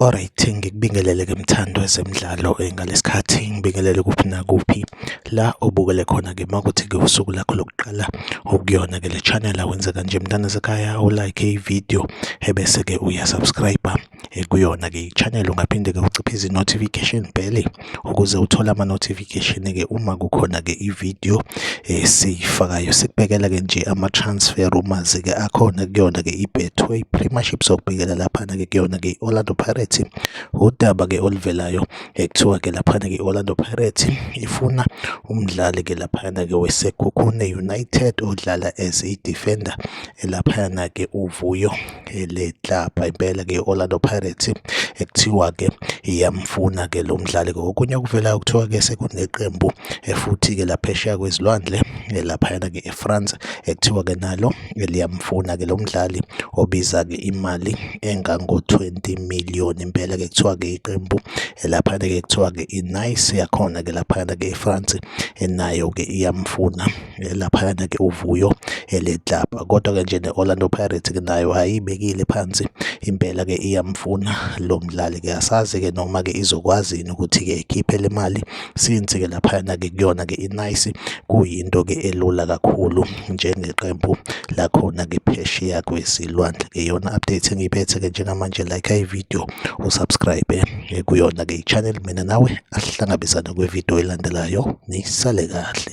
Alright, ngikubingelele ke mthandwa zemidlalo eh, ngalesikhathi ngibingelele kuphi nakuphi la obukele khona ke makuthi ke usuku lakho lokuqala okuyona ke le channel awenze kanje mntana sekhaya u like i video ebese ke uya subscribe eh, kuyona ke i channel ungaphinde ke uciphe izi notification bell ukuze uthole ama-notification-ke uma kukhona-ke i-video esiyifakayo sikubekela-ke nje ama-transfer rumors-ke akhona kuyona-ke i-betway premiership sokubhekela laphana-ke kuyona-ke i-orlando pirates udaba-ke oluvelayo ekuthiwa-ke laphana-ke i-orlando pirates ifuna umdlali-ke laphana-ke wesekhukhune united odlala as i-defender elaphana-ke uvuyo le club impela ke Orlando Pirates ekuthiwa ke iyamfuna ke lo mdlali kokunye okuvelayo kuthiwa ke sekuneqembu eh, futhi ke laphesheya kwezilwandle eh, laphayana ke eFrance ekuthiwa eh, ke nalo liyamfuna ke lo mdlali obiza ke imali engango 20 million impela ke kuthiwa ke iqembu laphayana ke kuthiwa ke iNice yakhona ke laphayana ke eFrance nayo ke iyamfuna eh, laphayana ke uvuyo eh, le club kodwa ke nje ne-Orlando Pirates ke nayo ayibekile phansi impela ke iyamfuna lo mdlali ke asazi ke noma ke izokwazi yini ukuthi ke ikhiphe le mali since ke laphayana ke kuyona ke inice kuyinto ke elula kakhulu njengeqembu lakhona ke phesheya kwesilwandle ke yona update engiyiphethe ke njengamanje like i video usubscribe eh, kuyona ke i-channel mina nawe asihlangabezane kwividiyo elandelayo nisale kahle